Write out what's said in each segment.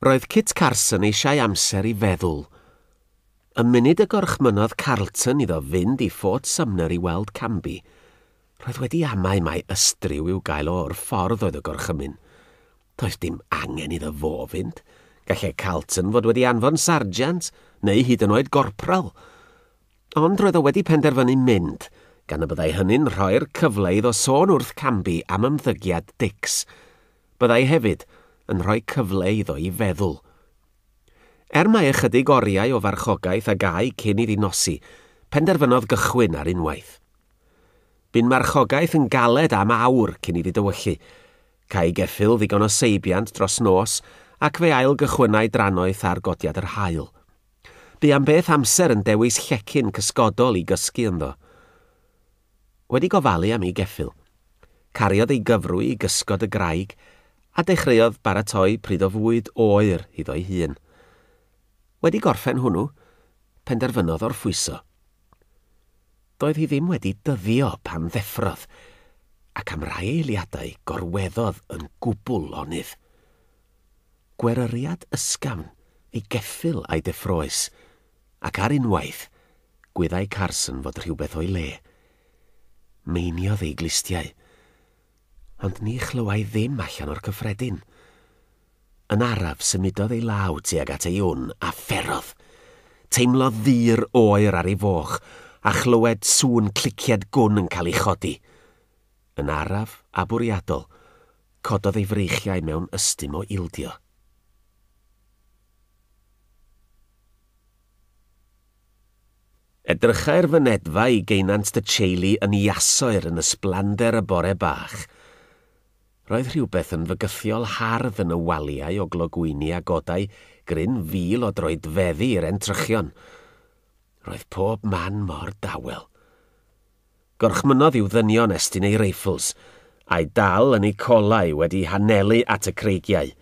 Roedd Kit Carson eisiau amser i feddwl. Y munud y gorchmynnodd Carlton iddo fynd i Fort Sumner i weld Canby, roedd wedi amau mai ystryw i'w gael o o'r ffordd oedd y gorchymyn. Doedd dim angen iddo fo fynd. Gallai Carlton fod wedi anfon sarjant, neu hyd yn oed gorpral. Ond roedd o wedi penderfynu mynd, gan y byddai hynny'n rhoi'r cyfle iddo sôn wrth Canby am ymddygiad Dicks. byddai hefyd yn rhoi cyfle iddo i feddwl. Er mai ychydig oriau o farchogaeth a gâi cyn iddi nosi, penderfynodd gychwyn ar unwaith. Bu'n marchogaeth yn galed am awr cyn iddi dywyllu. Câi geffyl ddigon o seibiant dros nos ac fe ail-gychwynnai drannoeth ar godiad yr haul. Bu am beth amser yn dewis llecyn cysgodol i gysgu ynddo. wedi gofalu am ei geffyl. Cariodd ei gyfrwy i gysgod y graig a dechreuodd baratoi pryd o fwyd oer iddo'i hun. Wedi gorffen hwnnw, penderfynodd orffwyso. Doedd hi ddim wedi dyddio pan ddeffrodd, ac am rai eiliadau gorweddodd yn gwbl lonydd. Gweryriad ysgafn ei geffyl a'i deffroes Ac ar unwaith, gwyddai Carson fod rhywbeth o'i le. Meiniodd ei glustiau. Ond ni chlywai ddim allan o'r cyffredin. Yn araf, symudodd ei law tuag at ei wn a pherodd. Teimlodd ddur oer ar ei foch a chlywed sŵn clicied gwn yn cael ei chodi. Yn araf a bwriadol, cododd ei freichiau mewn ystum o ildio. Edrychai'r fynedfa i geunant dy teulu yn iasoer yn ysblander y bore bach. Roedd rhywbeth yn fygythiol hardd yn y waliau o glogwyni a godai gryn fil o droedfeddi i'r entrychion. Roedd pob man mor dawel. Gorchmynnodd i'w ddynion estyn eu reifls, a'u dal yn eu colau wedi hanelu at y creigiau.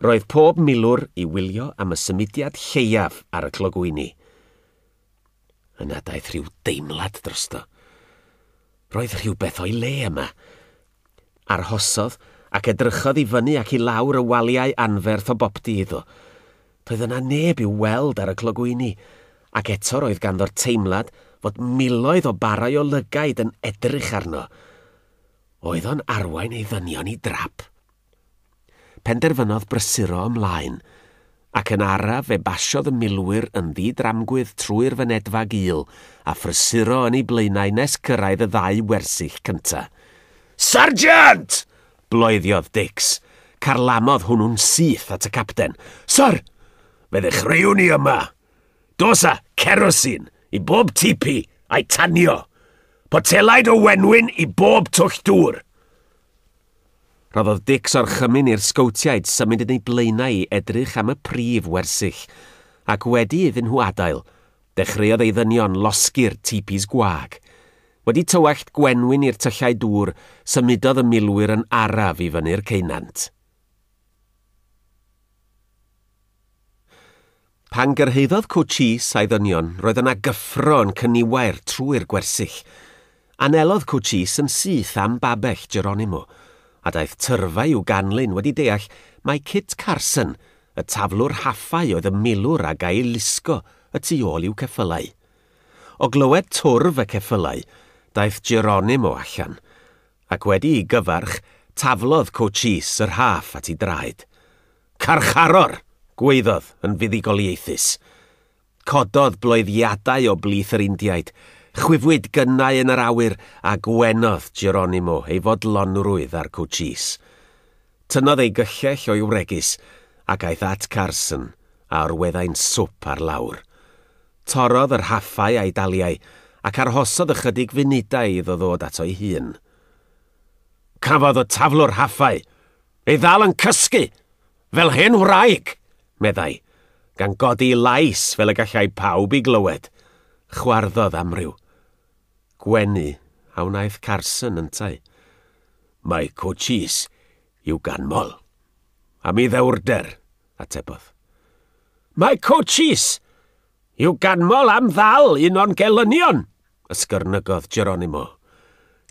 Roedd pob milwr i wylio am y symudiad lleiaf ar y clogwyni. Yna daeth rhyw deimlad drosto. Roedd rhywbeth o'i le yma. Arhosodd ac edrychodd i fyny ac i lawr y waliau anferth o boptu iddo. Doedd yna neb i'w weld ar y clogwyni, ac eto roedd ganddo'r teimlad fod miloedd o barau o lygaid yn edrych arno. Oedd o'n arwain ei ddynion i drap? Penderfynodd brysuro ymlaen, ac yn araf fe basiodd y milwyr yn ddi-dramgwydd trwy'r fynedfa gul a phrysuro yn eu blaenau nes cyrraedd y ddau wersyll cynta. Sargeant! bloeddiodd Dix. Carlamodd hwnnw'n syth at y capten. Syr! Fe ddechreuwn ni yma! Dos a cerosin i bob tipi a'i tanio! Potelaid o wenwyn i bob twll dŵr! Rhoddodd Dicks orchymyn i'r Sgowtiaid symud yn eu blaenau i edrych am y prif wersyll, ac wedi iddyn nhw adael, dechreuodd ei ddynion losgi'r tipis gwag. Wedi tywallt gwenwyn i'r tyllau dŵr, symudodd y milwyr yn araf i fyny'r ceunant. Pan gyrhaeddodd Cwtsh Is a'i ddynion, roedd yna gyffro yn cyniwair trwy'r gwersyll. Anelodd Cwtsh Is yn syth am babell Geronimo, a daeth tyrfa i'w ganlyn wedi deall mai Kit Carson, y taflwr haffau oedd y milwr a ga-i lusgo y tu ôl i'w ceffylau. O glywed twrf y ceffylau, daeth Geronimo allan, ac wedi i gyfarch, taflodd Cwtsh Is yr haff at ei draed. Carcharor! gwaeddodd yn fuddugoliaethus. Cododd bloeddiadau o blith yr Indiaid, chwifwyd gynnau yn yr awyr a gwenodd Geronimo ei fodlonrwydd ar Cochise. Tynnodd ei gyllell o'i wregys ac aeth at Carson a orweddai'n swp ar lawr. Torrodd yr haffau a'i daliai ac arhosodd ychydig funudau iddo ddod ato'i hun. Cafodd y taflwr haffau! Ei ddal yn cysgu, fel hen wraig, meddai, gan godi lais fel y gallai pawb i glywed. Chwarddodd amryw. Gwenu a wnaeth Carson yntau. Mae cwcis i'w ganmol. Am i ddewrder, atebodd. Mae cwcis! I'w ganmol am ddal un o'n gelynion, ysgyrnygodd Geronimo.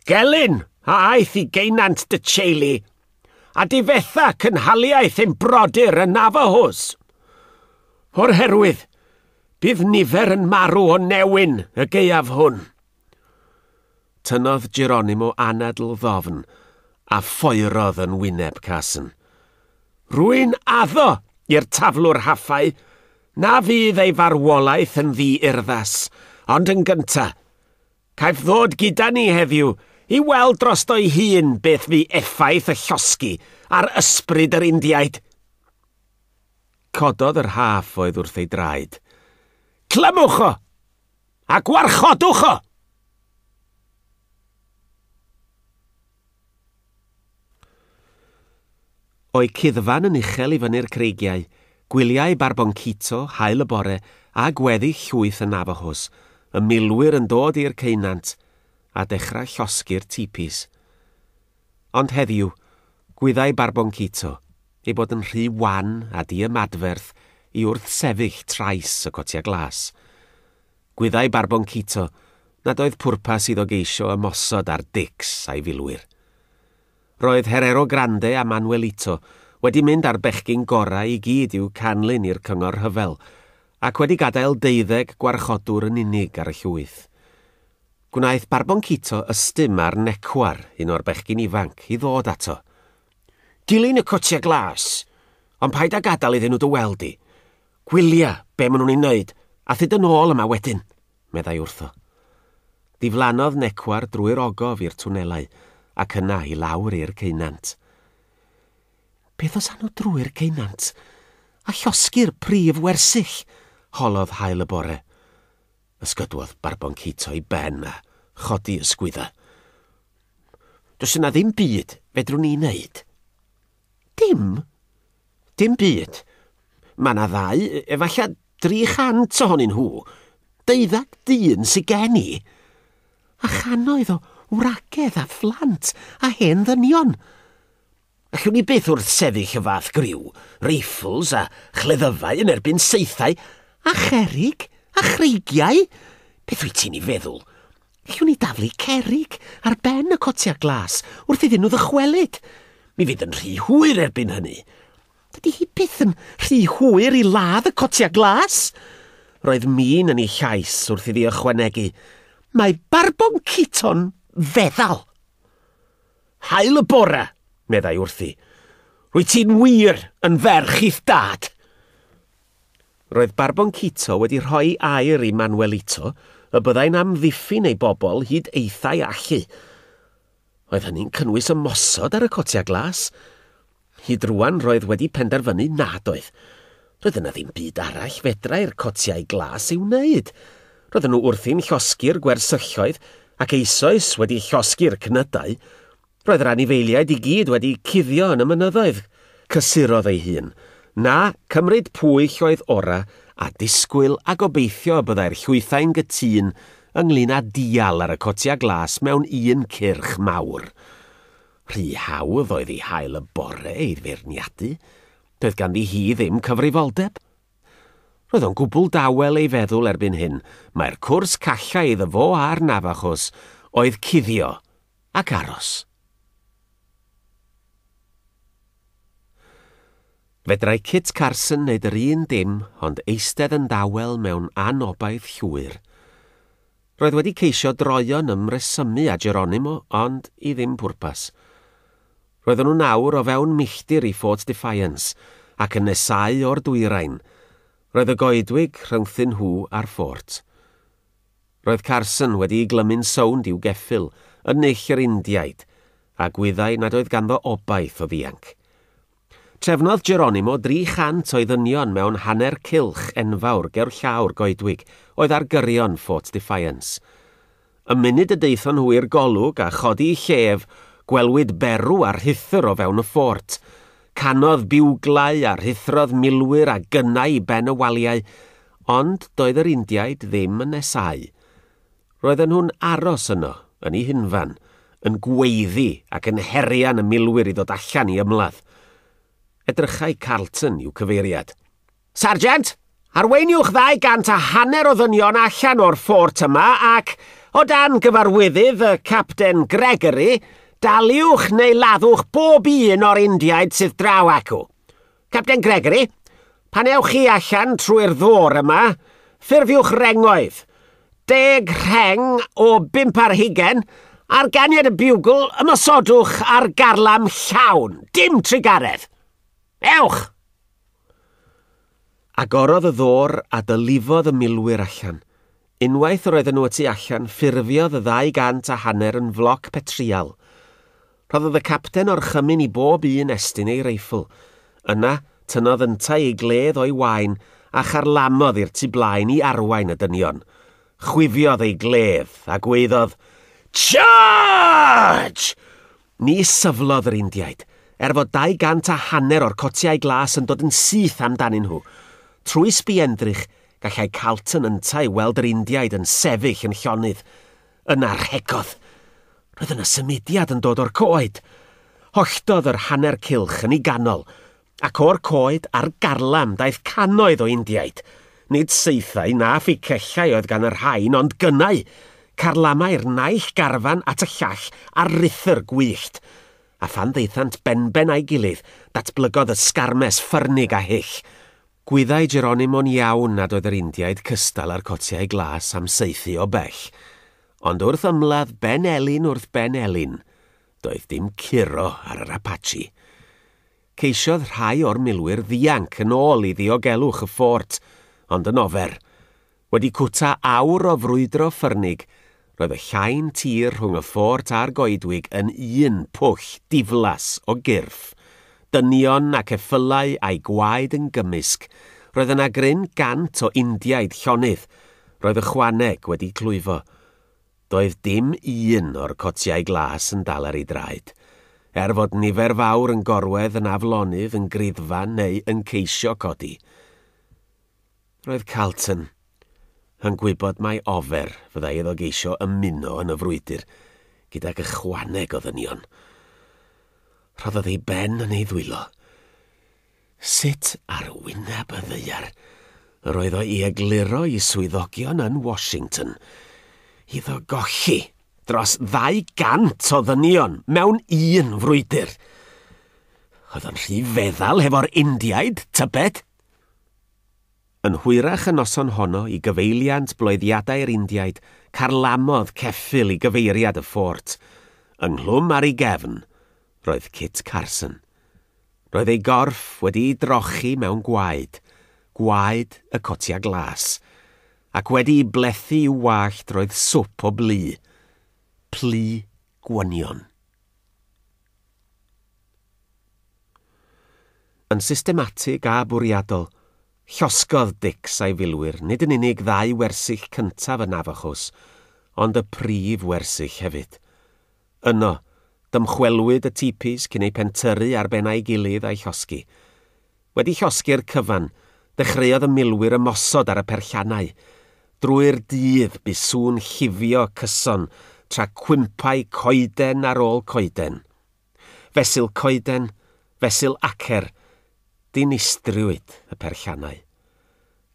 Gelyn, a aeth i geinant dy teulu, a difetha cynhaliaeth ein brodyr y Navajos. O'r herwydd, bydd nifer yn marw o newyn y gaeaf hwn. Tynnodd Geronimo anadl ddofn a phoerodd yn wyneb Carson. Rwy'n addo i'r taflwr haffau na fydd ei farwolaeth yn ddi-urddas, ond yn gynta, caiff ddod gyda ni heddiw i weld drosto'i hun beth fu effaith y llosgi ar ysbryd yr Indiaid. Cododd yr haff oedd wrth ei draed. Clymwch o! A gwarchodwch o! O'i cuddfan yn uchel i fyny'r creigiau, gwyliau Barboncito, haul y bore, a gweddi llwyth y Navajos, y milwyr yn dod i'r ceunant, a dechrau llosgi'r tipis. Ond heddiw, gwyddai Barboncito, ei bod yn rhy wan a diymadferth i wrthsefyll trais y cotiau glas. Gwyddai Barboncito nad oedd pwrpas iddo geisio ymosod ar Dix a'i filwyr. Roedd Herero Grande a Manuelito wedi mynd â'r bechgyn gorau i gyd i'w canlyn i'r cyngor rhyfel, ac wedi gadael deuddeg gwarchodwr yn unig ar y llwyth. Gwnaeth Barboncito ystum ar Necwar, un o'r bechgyn ifanc, i ddod ato. Dilyn y cotiau glas, ond paid â gadael iddyn nhw dy weld di. Gwylia be maen nhw'n ei wneud a thyd yn ôl yma wedyn, meddai wrtho. Diflannodd Necwar drwy'r ogof i'r twnelau ac yna i lawr i'r ceunant. Beth os awn nhw drwy'r ceunant a llosgi'r prif wersyll? holodd haul y bore. Ysgododd Barbon Cato i ben a chodi ysgwyddau. Does yna ddim byd fedrwn ni wneud. Dim? Dim byd. Mae yna ddau, efallai 300 ohonyn nhw. Deuddag dyn sydd gen i. A chanoedd o wragedd a phlant a hen ddynion. Allwn ni byth wrthsefyll y fath griw, reifls a chleddyfau yn erbyn saethau a cherrig a chreigiau! Beth wyt ti'n ei feddwl? Allwn ni daflu cerrig ar ben y cotiau glas wrth iddyn nhw ddychwelyd. Mi fydd yn rhy hwyr erbyn hynny. Dydy hi byth yn rhy hwyr i ladd y cotiau glas! Roedd min yn ei llais wrth iddi ychwanegu, Mae Barboncito'n feddal! Haul y bore! meddai wrthi. Rwyt ti'n wir yn ferch i'th dad! Roedd Barboncito wedi rhoi air i Manuelito y byddai'n amddiffyn ei bobl hyd eithau allu. Oedd hynny'n cynnwys ymosod ar y cotiau glas? Hyd rwan roedd wedi penderfynu nad oedd. Roedd yna ddim byd arall fedrai'r cotiau glas ei wneud. Roedden nhw wrthi'n llosgi'r gwersylloedd ac eisoes wedi llosgi'r cnydau. Roedd yr anifeiliaid i gyd wedi cuddio yn y mynyddoedd. Cysurodd ei hun. Na, cymryd pwyll oedd ora', a disgwyl a gobeithio y byddai'r llwythau'n gytûn ynglŷn â dial ar y cotiau glas mewn un cyrch mawr. Rhy hawdd oedd ei hael y bore ei feirniadu, doedd ganddi hi ddim cyfrifoldeb. Roedd o'n gwbl dawel ei feddwl erbyn hyn mai'r cwrs callai iddo fo a'r Navajos oedd cuddio ac aros. Fedrai Kit Carson wneud yr un dim ond eistedd yn dawel mewn anobaith llwyr. Roedd wedi ceisio droion ymresymu â Geronimo, ond i ddim pwrpas. Roedden nhw'n awr o fewn milltir i Fort Defiance, ac yn nesáu o'r dwyrain. Roedd y goedwig rhyngthyn nhw a'r ffort. Roedd Carson wedi'i glymu'n sownd i'w geffyl, yn null yr Indiaid, a gwyddai nad oedd ganddo obaith o ddianc. Trefnodd Geronimo 300 o'i ddynion mewn hanner cylch enfawr gerllaw'r goedwig oedd ar gyrion Fort Defiance. Y munud y daethon nhw i'r golwg a chodi eu llef, gwelwyd berw a rhuthr o fewn y ffort. Canodd biwglau a rhuthrodd milwyr a gynnau i ben y waliau, ond doedd yr Indiaid ddim yn nesáu. Roedden nhw'n aros yno, yn ei hunfan, yn gweiddi ac yn herian y milwyr i ddod allan i ymladd. Edrychai Carlton i'w cyfeiriad. Sarjant, arweiniwch ddau gant a hanner o ddynion allan o'r ffort yma ac, o dan gyfarwyddydd y Capten Gregory, daliwch neu laddwch bob un o'r Indiaid sydd draw acw. Capten Gregory, pan ewch chi allan trwy'r ddôr yma, ffurfiwch rengoedd. Deg rheng o bump ar hugen, ar ganiad y biwgl, ymosodwch ar garlam llawn. Dim trugaredd. Ewch! Agorodd y ddôr a dylifodd y milwyr allan. Unwaith roedden nhw y tu allan, ffurfiodd y ddau gant a hanner yn floc petrial. Rhoddodd y capten orchymyn i bob un estyn ei reifl. Yna, tynnodd yntau ei gledd o'i waen a charlamodd i'r tu blaen i arwain y dynion. Chwifiodd ei gledd a gwaeddodd, Charge! Ni syflodd yr Indiaid, er fod dau gant a hanner o'r cotiau glas yn dod yn syth amdanyn nhw. Trwy sbienddrych, gallai Carlton yntau weld yr Indiaid yn sefyll yn llonydd. Yna rhegodd. Roedd yna symudiad yn dod o'r coed. Holltodd yr hanner cylch yn ei ganol. Ac o'r coed a'r garlam daeth cannoedd o Indiaid. Nid saethau na phicellau oedd gan y rhain, ond gynnau, carlamau'r naill garfan at y llall ar ruthr gwyllt. A phan ddaethant benben a'i gilydd, datblygodd y sgarmes ffyrnig a hyll. Gwyddai Geronimo'n iawn nad oedd yr Indiaid cystal â'r cotiau glas am saethu o bell. Ond wrth ymladd ben elyn wrth ben elyn, Doedd dim curo ar yr Apache. Ceisiodd rhai o'r milwyr ddianc yn ôl i ddiogelwch y ffort, ond yn ofer. Wedi cwta awr o frwydro ffyrnig, roedd y llain tir rhwng y ffort a'r goedwig yn un pwll diflas o gyrff. Dynion ac effylau a'u gwaed yn gymysg. Roedd yna gryn gant o Indiaid llonydd. Roedd ychwaneg wedi clwyfo. Doedd dim un o'r cotiau glas yn dal ar ei draed, er fod nifer fawr yn gorwedd yn aflonydd yn griddfa neu yn ceisio codi. Roedd Carlton yn gwybod mai ofer fyddai iddo geisio ymuno yn y frwydr gydag ychwaneg o ddynion. Rhoddodd ei ben yn ei ddwylo. Sut ar wyneb y ddaear yr oedd o i egluro i swyddogion yn Washington iddo golli dros 200 o ddynion mewn un frwydr? Oedd o'n rhy feddal hefo'r Indiaid, tybed? Yn hwyrach y noson honno i gyfeiliant bloeddiadau'r Indiaid carlamodd ceffyl i gyfeiriad y ffort, ynghlwm ar ei gefn, roedd Kit Carson. Roedd ei gorff wedi'i drochi mewn gwaed, gwaed y cotia glas, ac wedi'i blethu i'w wallt roedd swp o blu. Plu gwynion. Yn systematig a bwriadol, llosgodd Dix a'i filwyr nid yn unig ddau wersyll cyntaf y Navajos, ond y prif wersyll hefyd. Yno, dymchwelwyd y tipis cyn eu pentyrru ar ben a'i gilydd a'i llosgi. Wedi llosgi'r cyfan, dechreuodd y milwyr ymosod ar y perllanau. Drwy'r dydd, bu sŵn llifio cyson tra cwympau coeden ar ôl coeden. Fesul coeden, fesul acer, dinistriwyd y perllanau.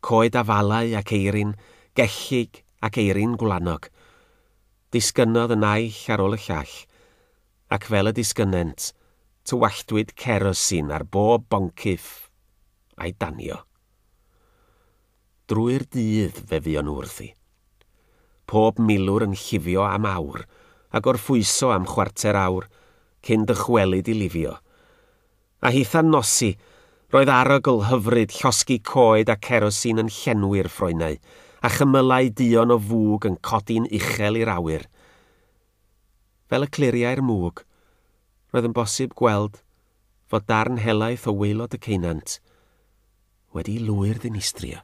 Coed afalau ac eirin, gellyg ac eirin gwlanog. Disgynnodd y naill ar ôl y llall, ac fel y disgynnent, tywalltwyd cerosin ar bob boncyff a'i danio. Drwy'r dydd fe fuon nhw wrthi. Pob milwr yn llifio am awr, a gorffwyso am chwarter awr, cyn dychwelyd i lifio. A hitha'n nosi, roedd arogl hyfryd llosgi coed a cerosin yn llenwi'r ffroenau, a chymylau duon o fwg yn codi'n uchel i'r awyr. Fel y cliriai'r mwg, roedd yn bosib gweld fod darn helaeth o waelod y ceunant wedi'i lwyr-ddinistrio.